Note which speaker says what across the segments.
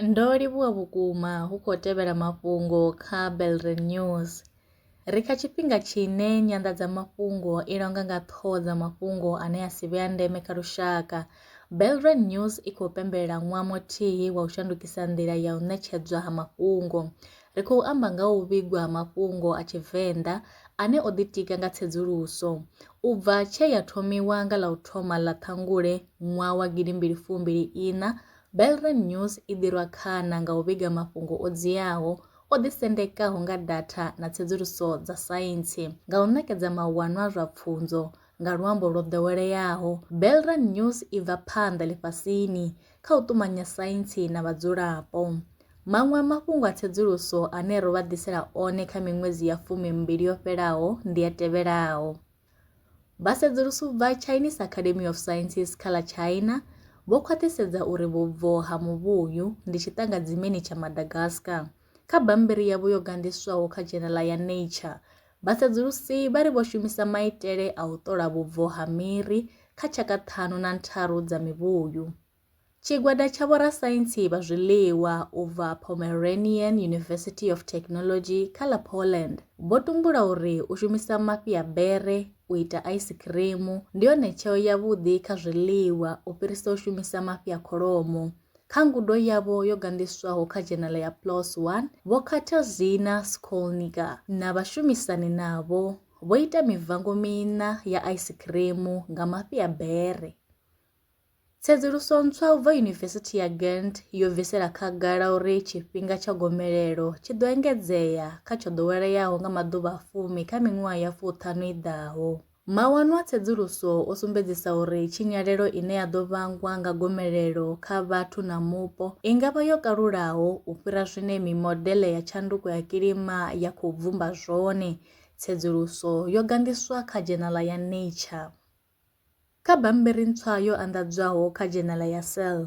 Speaker 1: Ndo livhuwa vhukuma hu khou tevhela mafhungo kha Belre News. Ri kha tshifhinga tshine nyanḓadzamafhungo i longa nga ṱhoho dza mafhungo ane a si vhe a ndeme kha lushaka. Belre News i khou pembelela ṅwaha muthihi wa u shandukisa nḓila ya u ṋetshedzwa ha mafhungo. Ri khou amba nga ha u vhigwa ha mafhungo a Tshivenḓa ane o ḓitika nga tsedzuluso u bva tshe ya thomiwa nga ḽa u thoma ḽa Ṱhangule ṅwaha wa gidi mbili fumbili iṋa. Belreign News i ḓi rwa khana nga u vhiga mafhungo o dziaho, o ḓisendekaho nga datha na tsedzuluso dza saintsi. Nga u ṋekedza mahuwano a zwa pfunzo nga luambo lwo ḓoweleaho, Belreign News i bva phanḓa ḽifhasini kha u ṱumanya saintsi na vhadzulapo. Maṅwe a mafhungo a tsedzuluso ane ro vha ḓisela one kha miṅwedzi ya fumi mbili yo fhelaho ndi a tevhelaho. Vha sedzulusi vha Chinese Academy of Sciences kha ḽa China vho khwaṱhisedza uri vhubvo ha muvhuyu ndi tshiṱangadzimeni tsha Madagascar. Kha bammbiri yavho yo ganḓiswaho kha dzhenela ya Nature, Vhasedzulusi vha ri vho shumisa maitele a u ṱola vhubvo ha miri kha tshaka ṱhanu na ntharu dza mivhuyu. Tshigwada tsha vhorasaintsi vha zwiḽiwa u bva Pomeranian University of Technology kha ḽa Poland vho tumbula uri u shumisa mafhi a bere u ita aisikhirimu ndi yone tsheo yavhuḓi kha zwiḽiwa u fhirisa u shumisa mafhi a kholomo. Kha ngudo yavho yo ganḓiswaho kha dzhenala ya PLOS 1, Vho Katarzyna Skolniga na vhashumisani navho vho ita mivango miṋa ya aisikhirimu nga mafhi a bere. Tsedzuluso ntswa u bva Yunivesithi ya Ghent yo bvisela khagala uri tshifhinga tsha gomelelo tshi ḓo engedzea kha tsho ḓoweleaho nga maḓuvha a fumi kha miṅwaha ya fuṱhanu i ḓaho. Mawanwa a tsedzuluso o sumbedzisa uri tshinyalelo ine ya ḓo vhangwa nga gomelelo kha vhathu na mupo i nga vha yo kalulaho u fhira zwine mimodeḽe ya tshanduko ya kilima ya khou bvumba zwone, tsedzuluso yo ganḓiswa kha dzhenaḽa ya Nature. Kha bammbiri ntswa yo anḓadzwaho kha dzhenaḽa ya Cell,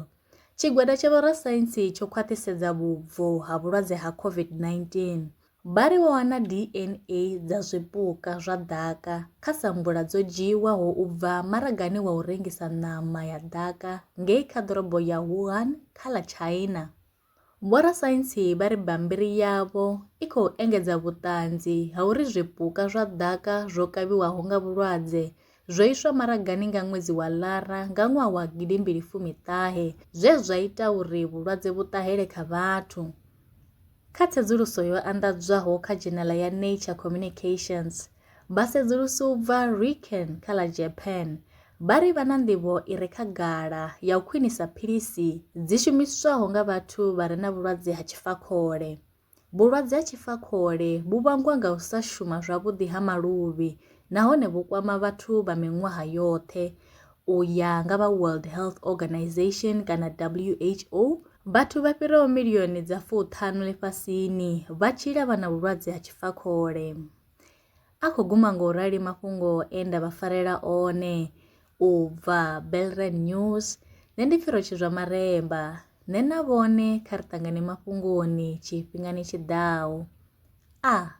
Speaker 1: tshigwada tsha vhorasaintsi tsho khwaṱhisedza vhubvo ha vhulwadze ha COVID-19 Vha ri vho wana DNA dza zwipuka zwa ḓaka kha samvula dzo dzhiiwaho u bva maragani wa u rengisa ṋama ya ḓaka ngei kha ḓorobo ya Wuhan kha ḽa China. Vhorasaintsi vha ri bammbiri yavho i khou engedza vhuṱanzi ha uri zwipuka zwa ḓaka zwo kavhiwaho nga vhulwadze zwo iswa maragani nga ṅwedzi wa Lara nga ṅwaha wa gidimbili fumi ṱahe zwe zwa ita uri vhulwadze vhu ṱahele kha vhathu. Kha tsedzuluso yo anḓadzwaho kha dzhenela ya Nature Communications, vhasedzulusi u bva Riken kha ḽa Japan vha ri vha na nḓivho i re khagala ya u khwinisa philisi dzi shumiswaho nga vhathu vha re na vhulwadze ha tshifakhole. Vhulwadze ha tshifakhole vhu vhangwa nga u sa shuma zwavhuḓi ha maluvhi nahone vhu kwama vhathu vha miṅwaha yoṱhe, U ya nga vha World Health Organization kana WHO, vhathu vha fhiraho milioni dza fuṱhanu ḽifhasini vha tshila vha na vhulwadze ha tshifakhole. A khou guma ngo rali mafhungo e nda vha farela one u bva Belren News, nṋe ndi Pfiro Tshizwa Maremba, nṋe na vhone kha ri ṱangane mafhungoni tshifhingani tshi ḓaho. A.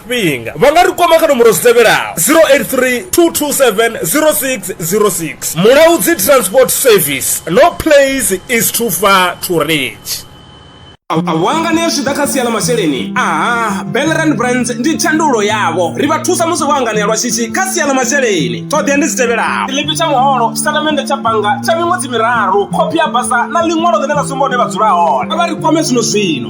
Speaker 2: tshifhinga vha nga ri kwama kha nomboro dzi tevhelaho 083 227 0606 mulaudzi transport service no place is too far to reach
Speaker 3: wangane zwi ḓa kha sia ḽa masheleni aha belran brands ndi tshandulo yavho ri vha thusa musi vho anganea lwa shishi kha sia ḽa masheleni ṱhoḓea ndi dzi tevhelaho tshiḽipi tsha muholo tshitatamennde tsha bannga tsha miṅwedzi miraru khophi ya basa na ḽiṅwalo ḽine ḽa sumba hune vha dzula hone a vha ri kwame zwino zwino